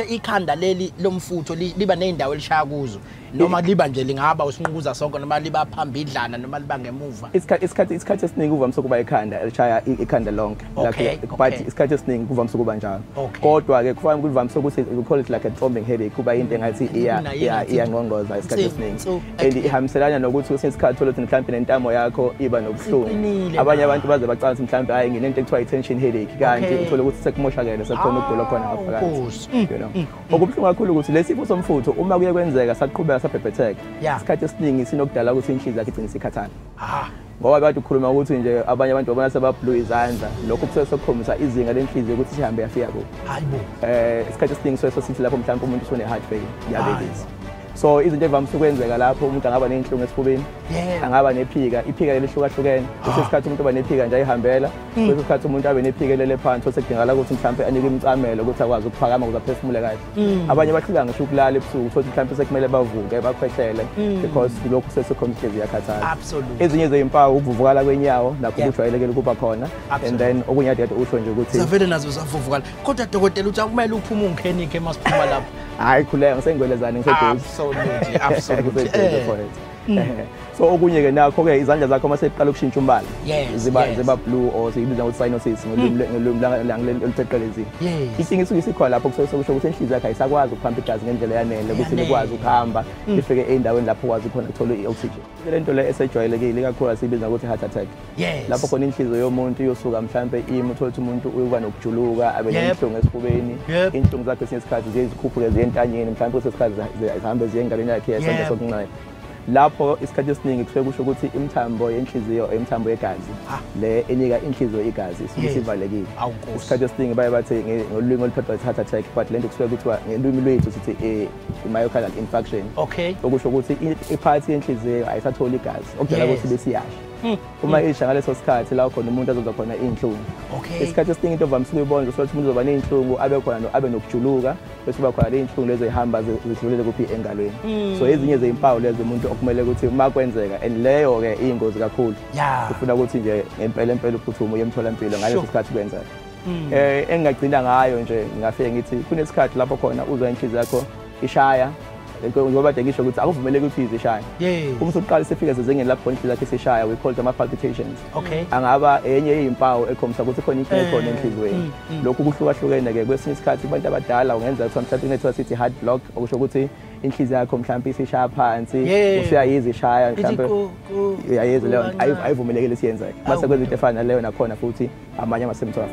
ikhanda leli lomfutho liba nezindawo elishaya kuzo noma liba nje lingaba usinqukuza sonke noma liba phambidlana noma liba ngemuva isikhathi isikhathi isikhathi esiningi kuvamise ukuba ikhanda elishaya ikhanda lonke okay, but okay. isikhathi esiningi kuvamise ukuba njalo okay. kodwa ke kufanele kuvamise ukuthi we call it like a thrombing headache kuba into engathi iya iya iya ngongoza isikhathi esiningi and ihambiselana nokuthi kwesinye isikhathi thole ukuthi mhlawumbe nentamo yakho iba nobuhlungu abanye abantu baze bacanga ukuthi mhlawumbe hayi nginento ekuthiwa i-tension headache kanti uthole ukuthi sekumoshakele sekukhona ukugula khona ngaphakathi mm, you know mm, mm. okubuhlungu kakhulu ukuthi lesi sifo somfutho uma kuye kwenzeka saqhubeka sabhebhetheka isikhathi esiningi sinokudala ukuthi inhliziyo yakhe igcine isikhathala ah. ngoba kade ukhuluma ukuthi nje abanye abantu babona sebabhlu izandla lokho kusuke sekukhombisa izinga lenhliziyo ukuthi sihambe yafika kuphi hayi bo eh isikhathi esiningi suke sosithi lapho mhlawumbe umuntu usune heart fail diabetes so izinto evamise ukwenzeka lapho umuntu angaba nenhlungu esifubeni angaba nephika iphika lelihlukahlukene kwesinye isikhathi umuntu uba nephika nje ayihambela kwesinye mm. isikhathi umuntu abe nephikelele phansi osekudingakala ukuthi mhlawumpe anike imicamelo ukuthi akwazi ukuphakama ukuze aphefumule kahle mm. abanye bahluleka ngisho ukulala ebusuku uthole mhlawumpe sekumele bavuke bakhwehlele mm. because lokhu sesekhomhlezi iyakhathala ezinye zeyimpawu ukuvuvukala kwenyawo nakho kujwayelekile ukuba khona and then okunye adede usho nje ukuthi zavele nazo zavuvukala kodwa dokotela uthi akumele uphume ungenike uma siphuma lapho hayi khuleka ngisengwelezane ngiseduze absolutely absolutely eh. Mm. so okunye ke nakho ke izandla zakho uma seqala ukushintsha umbala ziba ziba blue or siyibiza ngokuthi cyanosis ngolimi langileli olutheqelezini isingi isuke isikhona lapho kusuke sokusho ukuthi enhliziyo yakhe ayisakwazi ukuphamba igazi ngendlela yanele ukuthi likwazi ukuhamba mm. ifike endaweni lapho ukwazi khona ukuthola i-oxygen le nto le esejwayelekile ikakhulu asiyibiza ngokuthi heart attack Yes. Lapho khona inhliziyo yomuntu iyosuka mhlambe imi uthola ukuthi umuntu uyoba nokujuluka abe nenhlungu esifubeni. Inhlungu zakhe esinye isikhathi ziye zikhuphuke ziye entanyeni mhlambe kwesinye isikhathi zihambe ziye engalweni yakhe yesandla sokunxele. lapho isikhathi esiningi kusuke kusho ukuthi imithambo yenhliziyo imithambo yegazi ah. le enika inhliziyo igazi isuke isivalekile isikhathi esiningi baye bathi ngolwimi oluphathwa i-heart attack but le nto kusuke kuthiwa ngelwimi lwethu sithi eh, i-myocardial infarction okusho ukuthi iphathi yenhliziyo ayisatholi igazi okudala ukuthi besiyasha Hmm. uma hmm. isha ngaleso sikhathi la khona umuntu azozwa khona iy'nhlungu isikhathi esiningi into ovamisile uyibona ukuthi umuntu uzoba ney'nhlungu abe khona abe nokujuluka bese uba khona ley'nhlungu lezo ey'hamba zidlulele kuphi engalweni hmm. so ezinye zey'mpawu lezo umuntu okumele ukuthi uma kwenzeka and leyo-ke iyingozi kakhulu ufuna ukuthi nje ngempela empela uphuthume uye emtholampilo ngaleso sikhathi kwenzeka um engingagcina ngayo nje ngingafike ngithi kunesikhathi lapho khona uzwa inhliziyo yakho ishaya ngoba kade ngisho ukuthi akuvumeleki ukuthi ize ishaya uma usuqala sifike sezingeni lapho inhliziyo yakhe isishaya we call them palpitations angaba enye yezimpawu ekhombisa ukuthi khona into ekhona eh, enhliziyweni mm, mm. lokhu kuhlukahlukene ke kwesinye isikhathi kubantu abadala ungenzeka ukuthi mhlawumbe kunethiwa sithi heart block okusho ukuthi inhliziyo yakho mhlawumbe isishaya phansi usuyayiza ishaya mhlawumbe uyayiza leyo ayivumelekile siyenzeke mase kwenza into efana naleyo nakhona futhi amanye ama-symptoms